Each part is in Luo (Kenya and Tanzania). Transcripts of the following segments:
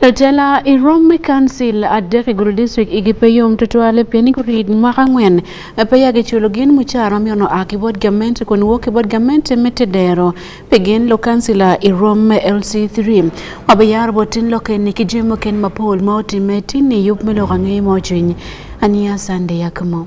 Tela i Rome Council adek i gudo district i gipe yom tutwale pien i kurit mwaka ngwen pe ya giculo gin mucara miyo no aki bot gament kun wok bot gament me tedero pe gin lo kansila i Rome LC3 ma be yar botin lo ken ki jemo ken mapol ma otime tin i yup me lo kangi mo cwiny ania sande yakmo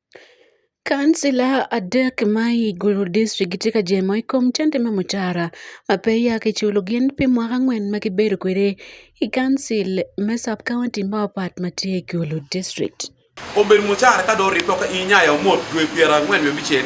Kansila adek ma Igulu district gitye ka jemo i kom cente me mucara ma pe giya ki culo gin pi mwaka angwen ma gibedo kwede i kancil me sub county ma opat ma tye Igulu district. Obedo mucara ka dong orib dok i nya ya omot dwe pyera angwen me bicel.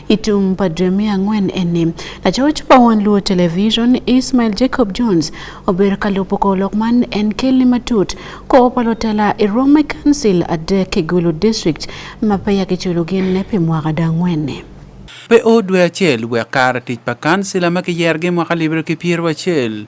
Itung padre mia ang'wen eni. Lachoch pa wan Luo Television Ismail Jacob Jones ober kalupo ko lok man en kelni matut ko opalo tela i Rome Council adek Kigulu District ma pe yaki culo gin ne pi mwaka da ang'wen ni. Pe o dwe acel wek kare tic pa kansila ma kiyergi mwaka libere ki pyero acel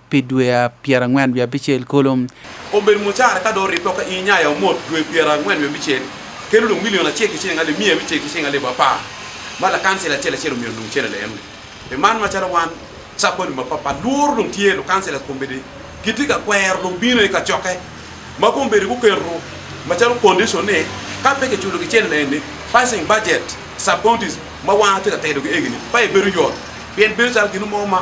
pi dwe pyerangwen wiye abicel kulu. Obedo mucara ka do ripe ka i nyaya omot dwe pyerangwen wiye abicel kelo dong milion acel ki cing ali miya abicel ki cing ali bapa ma lakansel acel acel omiyo dong cel alem ni e man ma cara wan saponi ma papa lur dong tye lo kansel akom bedi giti ka kwero dong bino i ka coke ma kom bedi ku kero ma calo condition ni ka pe ke chulo ki cel alem ni passing budget sub counties ma wan ati ka tedo ki egini pa e bedo yot pien bedo calo gino mo ma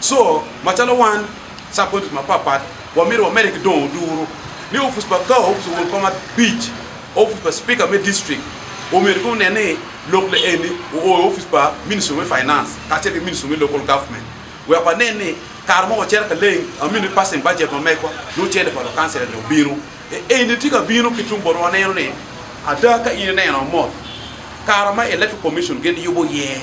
So, machalo wan subcounties mapapat, wamiro wamere gi dong' duro ni ofis pa ka ofis wuon koma beach, ofis pa speaker me district, omer ko ne ni local eni o ofis pa ministry me finance, kache ke ministry me local government. We pa ne ni kar mo chere ka leng, amini passing budget ma mekwa, no chere pa lo council ne obiro. E eni tika biro kitum boro waneno ni, ada ka ine neno mo, kar ma electoral commission gen yubo ye, yeah.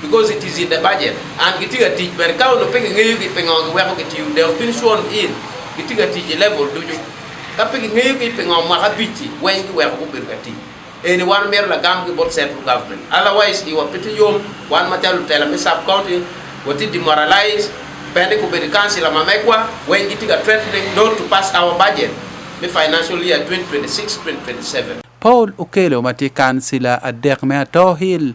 because it is in the budget and gitiga tich ber ka ono pigi ngeyo gi pingo gi weko gi tiu they've been sworn in gitiga tich e level duju ka pigi ngeyo gi pingo mwaka bichi wen gi weko go ber ka tich eni wan mero lagam gi bot central government otherwise iwa piti yom wan matelo tela mi sub county wati demoralize bende ku bedi council ma mekwa wen gitiga threatening not to pass our budget mi financial year 2026 2027 Paul Okelo ma tye kansila adek me Atoo Hill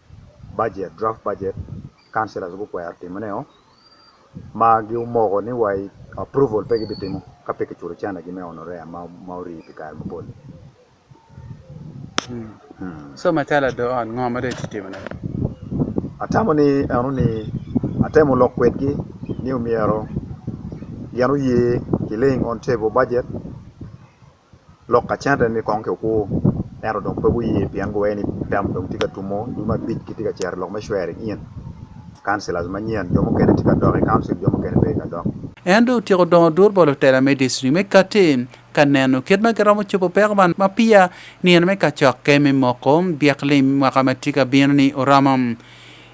budget, draft budget, councillors gukwero timone o, ma gimoko ni wa approval pe gibitimo ka pe kichulo cene gi me honorea ma, ma orii pi kare mapol. Hmm. So macalo ado ot ngo ma dong itimone? Atamo ni eno ni atemo lok kwedgi ni omyero gin oye ki laying on table budget Lok acen aye ni kong kikuku ento dong pe guye pien guwee ni tam dong tye ka tumo dul ma abic kitye ka cito i lok me shwering in councilors manyen jo mukene tye ka dok i council jo mukene pe ka dok. En dong otyeko dongo dul bolo tela me district me Kati ka neno kit ma giromo cobo peko man ma piya nino me kacokke me moko byek lim mwaka ma tye ka bino ni oromo.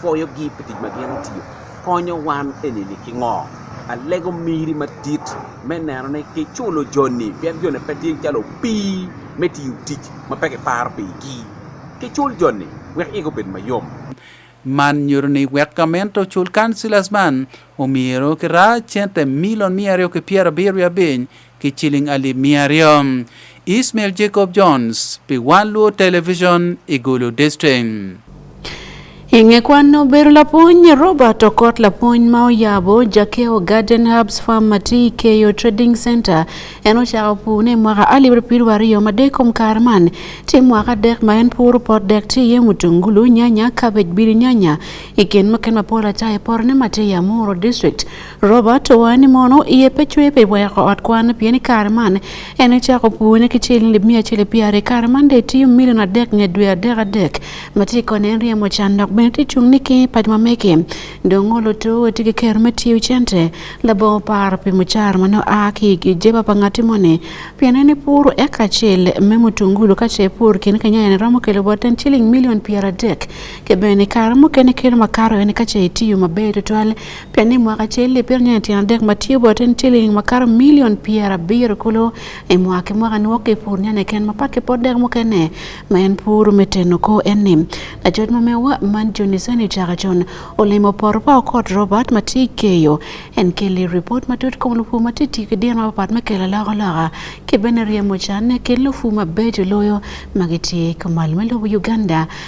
pwoyo gi pi tic ma gin otiyo konyo wan enini ki ngo alego miri madit me neno ni kiculo joni pien joni pe tye calo pii me tiyo tic ma pe kiparo pigi kicul joni wek ego bed mayom man nyuto ni wek gamente ocul kancilas man omyero kira cente milion miya aryo ki pyerabiryo abiny ki ciling alip miya aryo. Ismail Jacob Jones pi One Luo Television i Gulu District. Inge kwano ber lapuny Robert Okot lapuny ma oyabo Jakeo Garden Herbs Farm Mati Keyo Trading Center en ochako pune mwaka alibir piru ariyo ma dekom kar man ti mwaka dek ma en pur pot dek ti ye mutungulu nyanya cabbage biri nyanya iken maken mapol acha e porne mati ya Muro District Robert owacho ni mono iye pe cwe pe weko ot kwan pien kare man en chako puonye ki cil lib mia cil piare kare man de tiyo milion adek nye dwe adek adek ma ti kone en riemo can dok bene ti chung ni ki pat ma meke dong ngolo to ti ki kero me tiyo cente labo par pi mucar mano a ki ki jeba pa ngati mone pien en pur eka cil me mutungulu ka ce pur kin kanya en romo kelo boten ciling milion piara dek ke bene kare mukene kelo makaro en ka ce tiyo maber tutwal Pian ni mwaka acel lipiro nyo tyen adek ma tye bot en ciling makato milion pyera biro kulu i mwaka ki mwaka nwo ki pur nyane ken ma paki pot dek mukene ma en puru me teno ko en ni lacoc ma mewa man joni sani caka con olimo poto pa okot robert ma tye keyo en keli ripot ma tut kom lupu ma tye tii ki dino mapat me kelo loko loka ki bene ryemo cane ki lupu ma bejo loyo ma gitye kumal me lobo uganda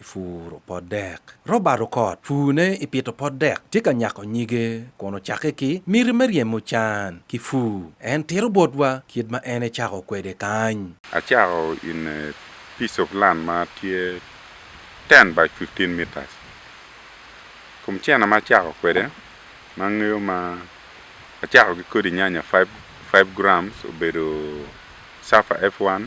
Ipuro pot dek. Robert Okot, purne i pito pot dek tye ka nyako nyige kun ocakke ki miti me ryemo can ki pur. En tito botwa kit ma en ecako kwede kany. Acako in a piece of land ma tye ten by fifteen metres. Kom cene ma acako kwede ma angeyo ma acako ki kodi nyanya five grams obedo Safa F1.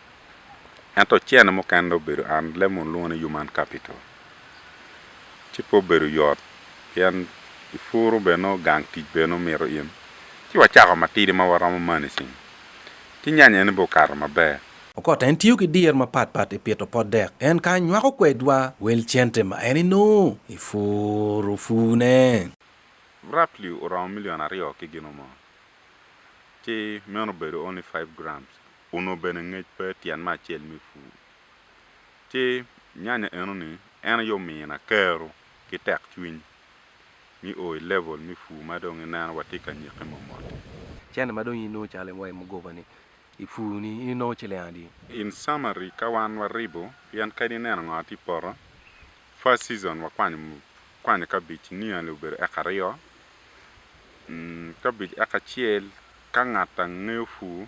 Ento ocene mukene obedo an lemo olwongo ni Human Capital. Ci pe obedo yot pien i puru bene nongo gang tic bene omito in. Ci wacako matidi ma waromo managing. Ki nyanya eni be okato maber. Okot en tiyo ki dyer mapat pat i pito pot dek. En ka nywako kwedwa wel cente ma en enongo i puru pune. Roughly oromo million aryo ki gin mo. Ci meno obedo only five grams Onongo bene ngec pe tyen me acel me pur. Ci nyanya enoni en aye omiyo na kero ki tek cwiny mi o i level me pur ma dong ineno wa tye ka nyiki mot mot-ti. Cente ma dong in inongo calo iwayo mugoba-ni i pur-ni in inongo ciling adi? In summary, ka wan waribo, pien kadi ineno ngo atye i poto, first season wakwanyo kwanyo cabbage nearly obedo eka aryo, cabbage eka acel ka ngat angeyo pur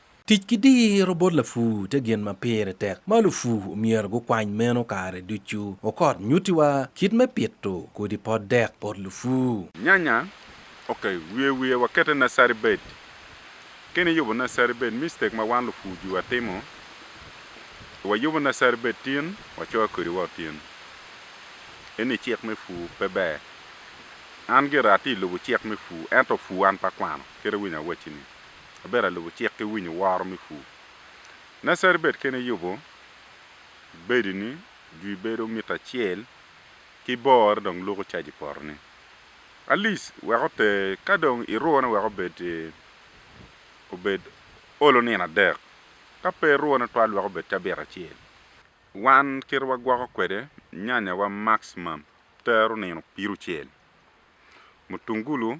Tic ki diro bot lapur tye gin ma pire tek ma lupur omyero gukwany meno kare ducu. Okot nyutiwa kit me pito kodi pot dek bot lupur. Nyanya, ok, wiye wiye wakete nursery bed. Kene iyubo nursery bed, mistake ma wan lupur jwi watimo, wayubo nursery bed tin, wacoyo kodi wa tin. Eni cik me pur pe ber. An gira atye ilubo cik me pur, ento pur an pe akwano, kit awinyo awacci ni. Abedo alubo cik ki winyo woro me pur. Nacer bed kene yubo bedi ni jwi bedo mita acel ki bore dong luko caji poto ni. Alice wek oter ka dong iruwo ne wek obed obed olo nino adek ka pe iruwo ne twal wek obed cabit acel. Wan kite wa gwoko kwede nyanya wa maximum tero nino pirucel. Mutungulu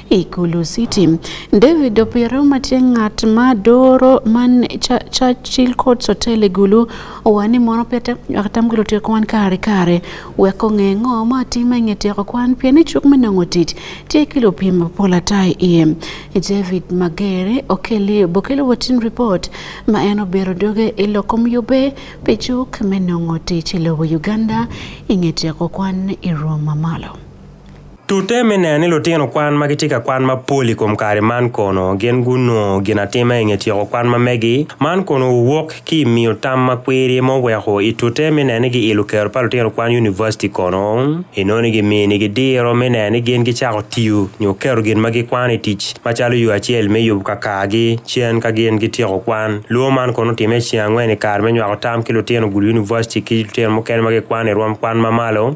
Ikulu City. David Opiero matie ng'at ma doro man Churchill Courts Hotel Igulu owani mono pia atam gilo tiyo kwan kare kare weko ng'e ng'o ma time ng'e tiyo kwan pia ni chuk menong'o tich tiye kilo pima pola tai iye David Magere okeli bokelo watin report ma en obero doge iloko myube pe chuk menong'o tich ilowo Uganda ing'e tiyo kwan iruo mamalo. Tute me neno ni lutino kwan ma gitye ka kwan mapol i kom kare man kono gin gunongo gin atima i nge tyeko kwan ma megi man kono owok ki i miyo tam ma kwiri ma oweko i tute me neno ni giilo kero pa lutino kwan univaciti kono inongo ni giminigi diro me neno ni gin gicako tiyo nyo kero gin ma gikwano i tic macalo yo acel me yubo kakargi cen ka gin gityeko kwan lwo man kono otime i ceng angwen i kare me nywako tam ki lutino gulu univaciti ki lutino mukene ma gikwano i rwom kwan mamalo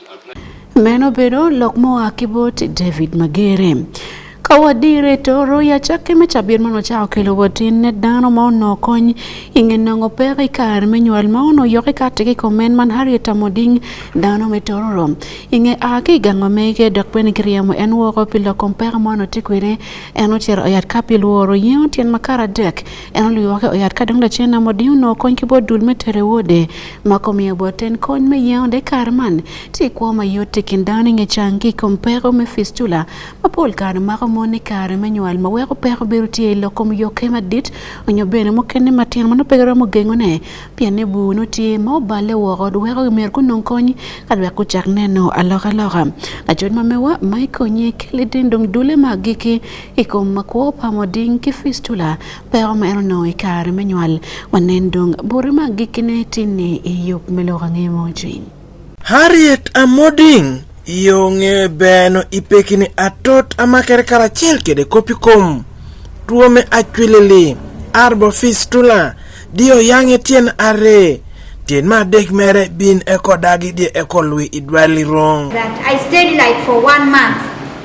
Meno bedo lok moa ki bot David Magere. Ka wadire to roya cakke me cabit man ocako kelo watin ne dano ma ono kony inge nongo pek i kare me nywal ma ono yok i kati ki komen man Harriet Amoding dano me tororo inge a ki gango mege dok bene giriemo en woko pi loko mpeka ma ono tye kwede en ocero oyat ka pi lworo yengo tyen makara dek en olwoke oyat ka dong lacen Amoding ono kony ki bo dul me tere wode mako miyo boten kony me yewonde kar man ti kwo ma yot ti kin dano nge cang ki kom peko me fistula ma pol kare mako mon ni kare me nywal ma weko peko biro tye i lokom yoke madit onyo bene mukene matino ma nopeke romo gengo ne pien ni bur no tye ma oballe woko weko myero gunong kony ka lwek gucak neno aloka loka lacot ma mewa ma ikonye keli ding dong dule ma giki i kom ma kwo pamo ding ki fistula pe omeno nongo i kare me nywal wanen dong bute ma gikkine tinni i yub me lok ange mo cwiny Harriet Amoding iyo nge beno i pekini atot amakere karacel kede kopi kom tuo me acwilili arbo fistula diyo yange tyen are tyen ma adek mere bin eko dagi diye eko lwi idwali rong That I stayed like for one month.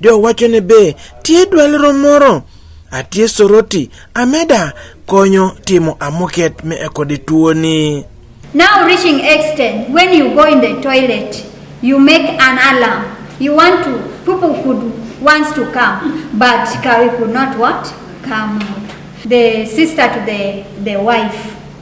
Jo wacho ne be tie dwal romoro atie soroti ameda konyo timo amoket me ekode tuoni. Now reaching extent when you go in the toilet you make an alarm you want to people could wants to come but Kawi could not what come out. The sister to the, the wife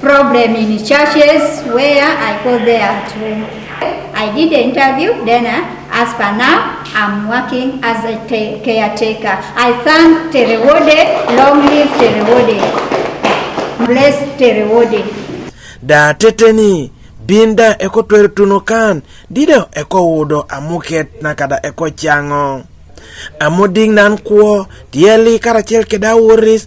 Problem in churches where I go there at home. I did the interview, then uh, as per now, I'm working as a caretaker. I thank Terewode, long live Terewode. Bless Terewode. Da teteni binda eko twer tuno kan dido eko wudo amuket na kada eko chango amuding nan kuo tieli karachiel keda wuris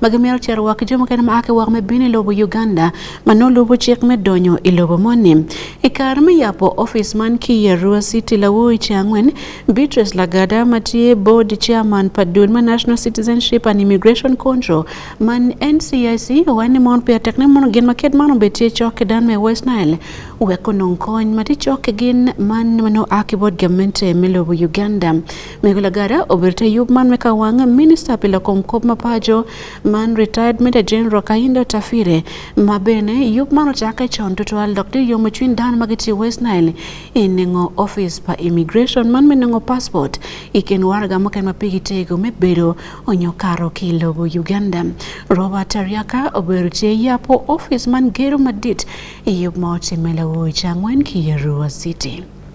ma gimyero cito woko ki jo mukene ma a ki woko me bino i lobo Uganda ma nongo lubo cik me donyo i lobo moni. I kare me yabo office man ki i Arua City lawo i ce angwen, Beatrice Lagada ma tye board chairman pa dul ma National Citizenship and Immigration Control man NCIC owaco ni mon peya tek ne mono gin ma kit man obedo tye cok ki dan me West Nile wek onong kony ma tye cok ki gin man ma nongo a ki bot gamente me lobo Uganda. Migula Gara obirte yub man meka wang minista pile kom kop mapajo man retired Major General Kahindo Tafire ma bene yub man ochake chon to twal Dr. Yomo Chwin Dan magiti West Nile inengo office pa immigration man menengo passport iken warga moken mapigi tego me bedo onyo karo ki lobo Uganda. Robert Tariaka obirte yapo office man gero madit yub ma otimela wuocha ngwen ki Yarua City.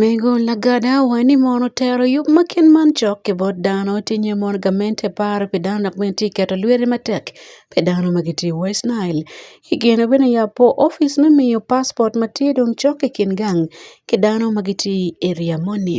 Mego lagada wa ni mono tero yub ma kin man cok ki bot dano ti nyo mono gamente par pi dano dok bene ti keto lwete matek pi dano ma giti i West Nile. I kine bene yapo opic me miyo paspot ma tye dong cok i kin gang ki dano ma giti i eriya moni.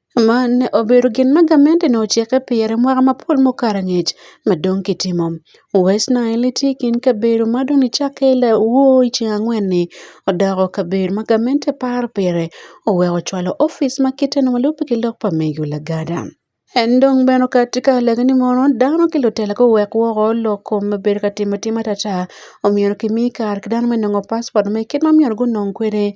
Mane obedo gin ma gamente ne ocike pi i mwaka mapol mokar angec ma dong kitimo. West Nile tye i kin kabedo ma dong nicakke i lawoo i ceng angwen-ni odoko kabedo ma gamente paro pire oweko ocwalo opic ma kite nongo lubbe ki lok pa mego lagada. En dong bene okati ka lage ni mono dano ki lutela guwek woko lok kom ma bedo ka timo atima atata omyero kimi kare ki dano me nongo paspot me kit ma myero gunong kwede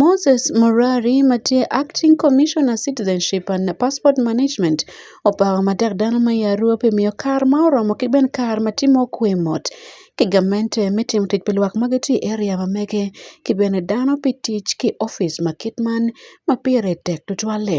Moses Murari ma tie Acting Commissioner Citizenship and Passport Management opawo matek dano ma ya Arua pi miyo kar ma oromo ki ben kar ma timo kwe mot ki gamente me timo tic pi lwak ma gitye i area ma mege ki bene dano pi tic ki ofice ma kit man ma pire tek tutwal-li.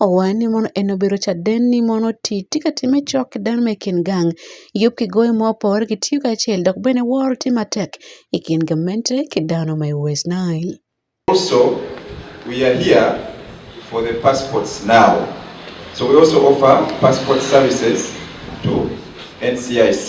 owaye ni mono eno bero cha den ni mono ti ti ka time chok den me kin gang yop ki goyo mo por ki tiyo ka chel dok bene wor ti matek i kin gamente ki dano ma i West Nile. Also, we are here for the passports now. So we also offer passport services to NCIC.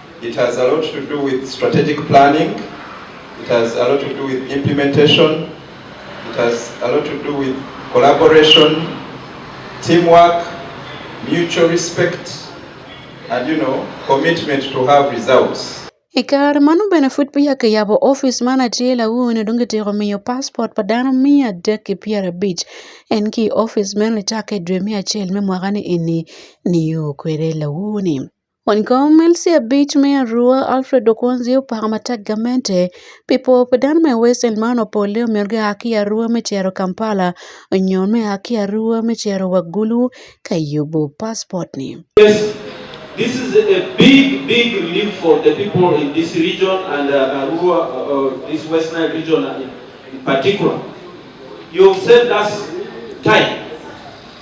It has a lot to do with strategic planning. It has a lot to do with implementation. It has a lot to do with collaboration, teamwork, mutual respect, and you know, commitment to have results. I kare mano bene pud peya kiyabo ofis man atye lawone dong kityeko miyo paspot pa dano miya adek ki pyera abic en ki ofis meno licake dwe miya acel me mwaka ni eni niyo kwede lawone. Wankomelisya beach me Arua Alfred Okonzi opako matek gamente pi pwo pa dano me Western man opolle omyero gia ki i Arua me cito Kampala nyo me a ki Arua me cito wa Gulu ka yubo paspot ni. Yes, this is a big, big relief for the people in this region and uh, Arua, uh, uh this West Nile region uh, in particular. You've saved us time.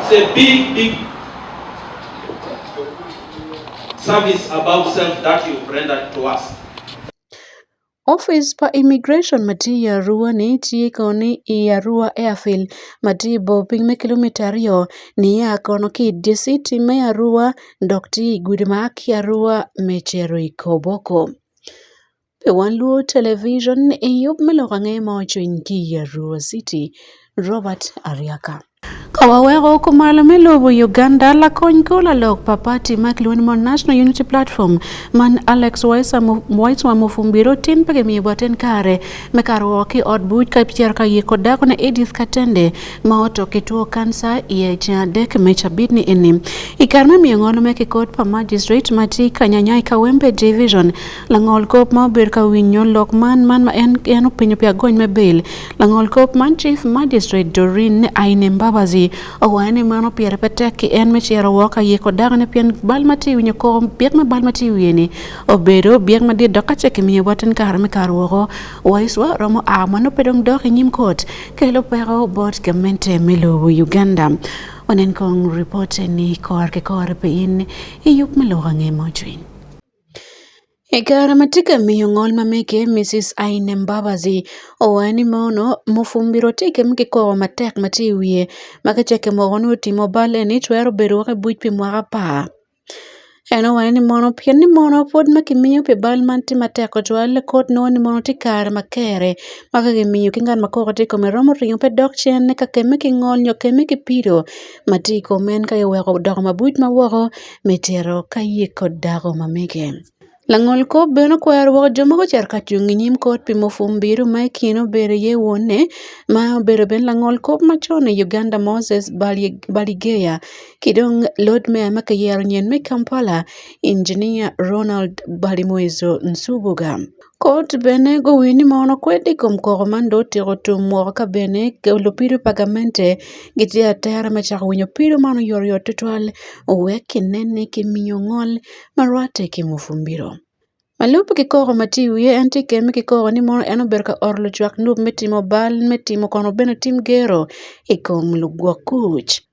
It's a big, big service above self that you've rendered to us. Office pa immigration matii i Arua ni tye kono ni i Arua Airfield ma tye i bor piny me kilomita aryo niya kono ki i dye city me Arua dok tye i gudi ma a ki Arua me cito i Koboko. Be wan Luo Television e yo miloko ang'e ma ochwiny ki Arua City, Robert Ariaka. Ka waweko kumalo me lobo Uganda lakony kola lok pa pati ma kilwongo ni mon National Unity Platform man Alex Waiswa Mufumbiro tin pe gimiyo bwaten kare me karo woko ki ot buc ka ipicero ka ye kod dako ne Edith Katende ma oto ki two kansa i ceng adek me cabit ni eni. I kare me miyo ngolo me ki kot pa magistrate ma tye ka nyanya i Kawempe Division, Langol kop ma obedo ka winyo lok man man ma en en opinyo pi agony me bail. Langol kop man Chief Magistrate Doreen Aine Mbabazi owacho ni mano pire pe tek ki en me ciro woko ka yeko dako ne pien bal ma ti winyo ko byek ma bal ma ti wiye ni obedo byek ma dit dok ka cek miyo watin kare me kar woko. Waiswa romo a man obedo dok i nyim kot kelo peko bot gamente me lobo Uganda. Wanen kong report ni kor ke kor pe in i yup me loka nge mo jwiny. E kare ma tika miyo ng'ol ma mege Misis Aine Mbabazi owae ni mono mufumbiro tike mege kowa matek ma tye iwiye ma ka ceke moko nyo timo bal eni twero bedo woko i buc pi mwaka apar. En owae ni mono pien ni mono pwod ma kimiyo pi bal man tye matek tutwal kot nongo ni mono tye kare ma kere ma ka kimiyo ki ngat ma koko tye ikome romo ringo pe dok cen ka kemme ki ngol nyo kemme ki pido ma tye i kom en ka iweko odoko mabuc ma woko me tito ka ye kod dako ma mege. Langol kop bene okwero woko jo ma gucito ka cung i nyim kot pi Mufumbiro ma i kine obedo iye wonne ma obedo bene langol kop macon i Uganda Moses Baligeya ki dong lord mayor ma kiyero nyen me Kampala Engineer Ronald Balimwezo Nsubuga. Kot bene gowinj ni mono kwed i kom koko man dong otyeko tum woko ka bene lupido pa gamente gitye i atera me cako winyo pido man oyotoyot twatwal wek kinene kimiyo ngol ma rwatte ki Mufumbiro. Ma lub ki koko ma tye i wiye en tye keme ki koko ni mono en obedo ka oro lucwak nub me timo bal me timo kono bene tim gero i kom lugwok kuc.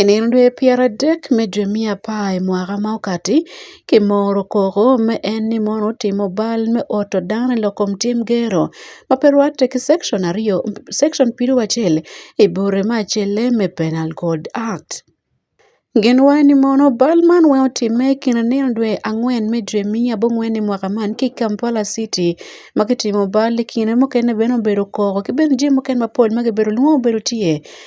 I nino dwe pyeradek me dwe me apar i mwaka ma okati, kimoro koko ma en ni mon otimo bal me oto dano i lok kom tim gero ma pe rwatte ki Cekcon aryo Cekcon piero acel i bute me acel-le me Penal Code Act. Gin waco ni mono bal man weng otimme i kin nino dwe angwen me dwe me abongwen i mwaka man ki i Kampala city ma kitimo bal i kine mukene bene obedo koko ki bene jami mukene mapol ma kibedo lwongo bene tye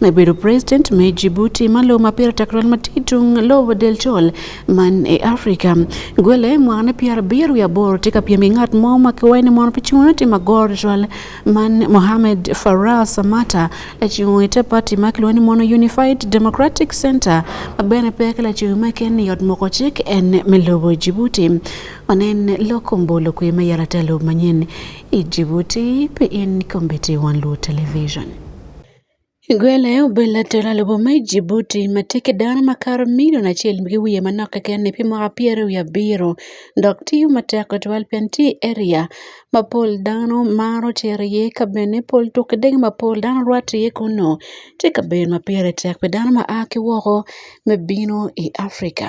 Nabedo president me Djibouti ma lobo ma pire tek rol matit tung lobo del col man e Africa. Gwele mwana pier abiro wiye aboro tye ka pyem ki ngat mo ma kiwayo ni mono pe cungo tye ma goro col man Mohamed Farah Samata lacungo ite party ma kilwongo ni mono Unified Democratic Center ma bene pe ki lacungo ma ken ni yot moko cik en me lobo Djibouti. Wanen loko mbolo kwe ma yala te lobo manyen i Djibouti pe in kombiti wan luo television. Gwele obila tero alubo me Jibuti ma teke dano makato milion acel ki wiye manok keken pi mwaka pyeraryo wiye abiro dok tiyo matek tutwal pien tye i eriya ma pol dano maro cito iye ka bene pol tuk ki degi ma pol dano rwatte iye kunnu tye kabedo ma pire tek pi dano ma a ki woko me bino i Afrika.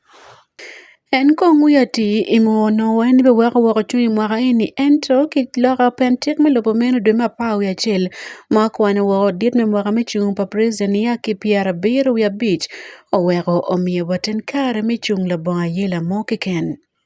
En kong'u ye ti i muono en be weko woko cung i mwaka eni ento ki loka pe cik me lobo meno dwe me apar wiye acel ma okwano woko dit me mwaka me cung pa president nia ki pyera abiro wiye abic oweko omiyo wa ten kare me cung labongo ayela mo keken.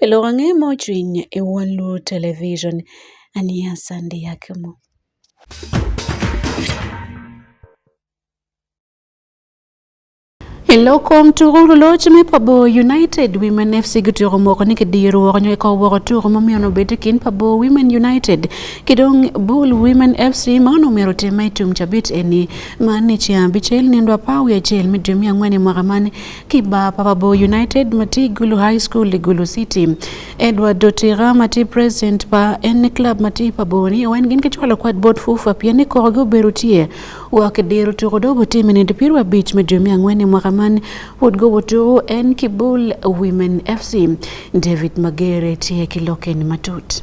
Pelo wang'e mojiny e One Luo Television. Ania Sandi Yakimo. Eloko mtugulu loch me pabo United Women FC gituro moko ni kidiru woko nyo ikaw woko turo momiyo no beti kin pabo Women United kidong Bull Women FC maono mero tema itum chabit eni mani chia bichel nendwa pawi achiel midumi ang'wene mwaka mani Kiba Papabo United mati Gulu High School Gulu City Edward Dotira mati president pa en club mati Paboni wen gin kichwalo kwad bot fufa pia ni koro go berutie wak dero to do bote mene de pirwa beach me jomia ngwene mwaka man would go woto en Kibul Women FC David Magere tie kiloken matut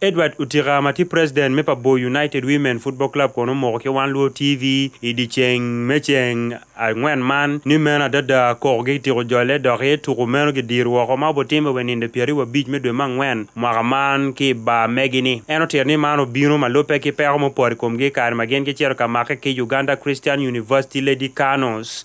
Edward Utiga ma tye president me pa Bor United Women Football Club kono omoko ki Wan Luo TV i dyeceng me ceng angwen man ni meno adada koko gitiko jolle dok i tuku meno gidiro woko ma obutimme wa i ninde pyeraryo abic me dwe me angwen mwaka man ki i bar megi-ni. En otito ni man obino ma lubbe ki peko mupore i komgi i kare ma gin gicito ka make ki Uganda Christian University Lady Canos.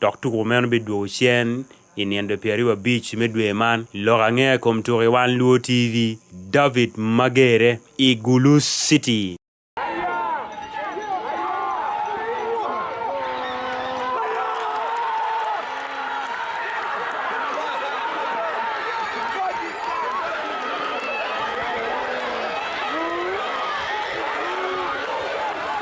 Dok tuko meno bidwogo cen i nindo pi aryo abic me dwe man i lok angea i kom tuko i wan luo TV. David Magere i Gulu City.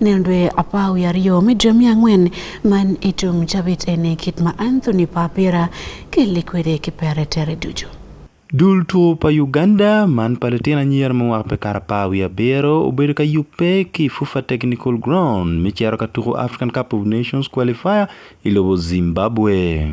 Nendwe apau ya rio midra mia ngwen man itum chabit ene kit ma Anthony Papira kilikwede kipere tere dujo. Dul two pa Uganda man pa litino anyira ma wako pe kara apar wiye abiro obedo ka yubbe ki FUFA Technical Ground me cito ka tuko African Cup of Nations Qualifier i lobo Zimbabwe.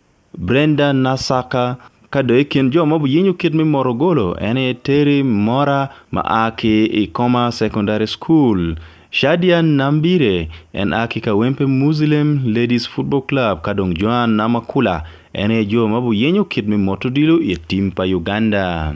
Brenda Nasaka kado e kind joma oyieny oket mi mor ogolo en e Terry Mora ma a ki Ikoma Secondary School. Shadia Nambire en a ki Kawempe Muslem Ladies Football Club ka dong Joan Namakula en e jo ma oyieny oket mi mot odilo e tim pa Uganda.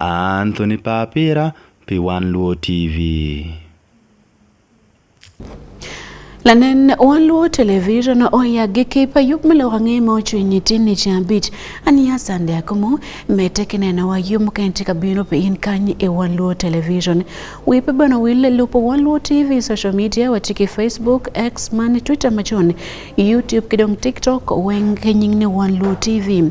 Anthony Papira, P1 Luo TV. lanen wan luo television oya gi kipa yub milo wange ma ochwe nyiti ni chambit ani ya sande akumo mete kineno wa yum kenti kabino pe in kanyi e wan luo television wipe bano wile lupo wan luo tv social media watiki facebook x man twitter machon youtube kidong tiktok weng kenying ni wan luo tv